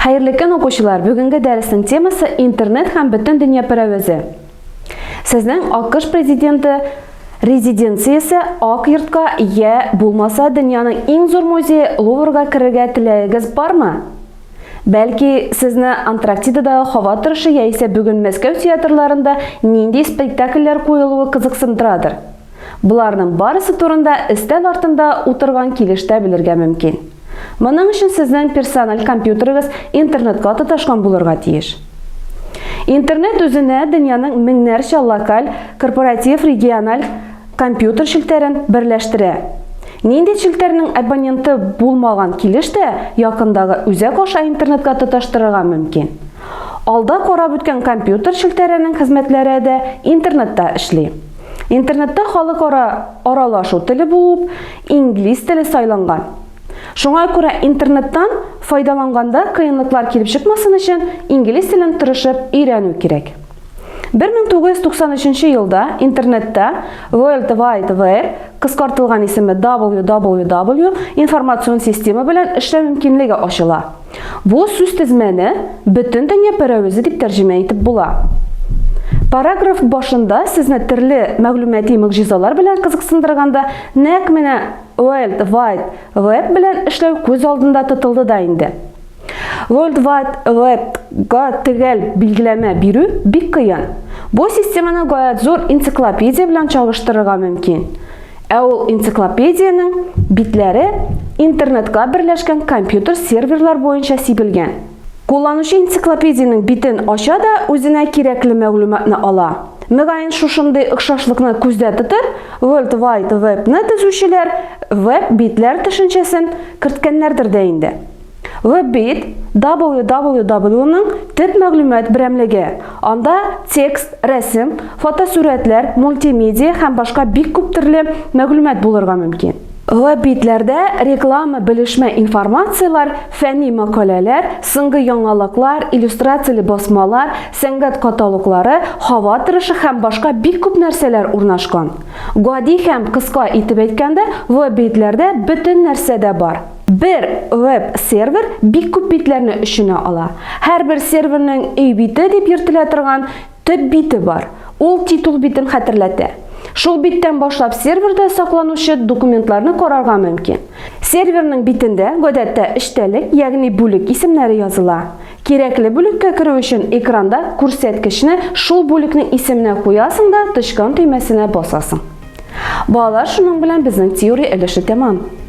Хәерле көн, укучылар! Бүгенге дәресенең темасы интернет һәм бөтен дөнья пәрәвезе. Сезнең АКШ президенты резиденциясе Ак йортка я булмаса дөньяның иң зур музее Луврга керергә теләгегез бармы? Бәлки, сезне Антарктидадагы һава торышы яисә бүген Мәскәү театрларында нинди спектакльләр куелуы кызыксындырадыр? Боларның барысы турында өстәл артында утырган килештә белергә мөмкин. Моның өчен сезнең персональ компьютерыгыз интернетка тоташкан булырга тиеш. Интернет үзенә дөньяның меңнәрчә локаль, корпоратив, региональ компьютер челтәрен берләштерә. Нинди челтәрнең абоненты булмаган килеш тә якындагы үзәк аша интернетка тоташтырырга мөмкин. Алда карап үткән компьютер челтәренең хезмәтләре дә интернетта эшли. Интернетта халыкара аралашу теле булып инглиз теле сайланган. Шуңа күрә интернеттан файдаланганда кыенлыклар килеп чыкмасын өчен инглиз телен тырышып өйрәнү кирәк. 1993 елда интернетта World Wide Web кыскартылган исеме WWW информацион система белән эшләү мөмкинлеге ачыла. Бу сүз тезмәне бөтен дөнья пәрәвезе дип тәрҗемә итеп була. Параграф башында сезне төрле мәгълүмати мөгъҗизалар белән кызыксындырганда, нәкъ менә World Wide Web белән эшләү күз алдында тотылды да инде. World Wide Web-га төгәл билгеләмә бирү бик кыен. Бу системаны гаять зур энциклопедия белән чагыштырырга мөмкин. Ә ул энциклопедиянең битләре интернетка берләшкән компьютер серверлар буенча сибелгән. Кулланучы энциклопедиянең битен ача да үзенә кирәкле мәгълүматны ала. Мөгаен шушындый охшашлыкны күздә тотып, World Wide Web-ны төзүчеләр веб-битләр төшенчәсен керткәннәрдер дә инде. Веб-бит www-ның төп мәгълүмат берәмлеге. Анда текст, рәсем, фотосурәтләр, мультимедиа һәм башка бик күп төрле мәгълүмат булырга мөмкин. Веб-битләрдә реклама, белешмә информацияләр, фәнни мәкаләләр, соңгы яңалыклар, иллюстрацияле басмалар, сәнгать каталоглары, һава торышы һәм башка бик күп нәрсәләр урнашкан. Гади һәм кыска итеп әйткәндә, веб-битләрдә бөтен нәрсә дә бар. Бер веб-сервер бик күп битләрне өченә ала. Һәрбер серверның өй бите дип йөртелә торган төп бите бар. Ул титул битен хәтерләтә. Шул биттән башлап серверда сакланучы документларны карарга мөмкин. Серверның битендә гадәттә эчтәлек, ягъни бүлек исемнәре языла. Кирәкле бүлеккә керү өчен экранда күрсәткечне шул бүлекнең исеменә куясың да тычкан төймәсенә басасың. Балалар, шуның белән безнең теория өлеше тәмам.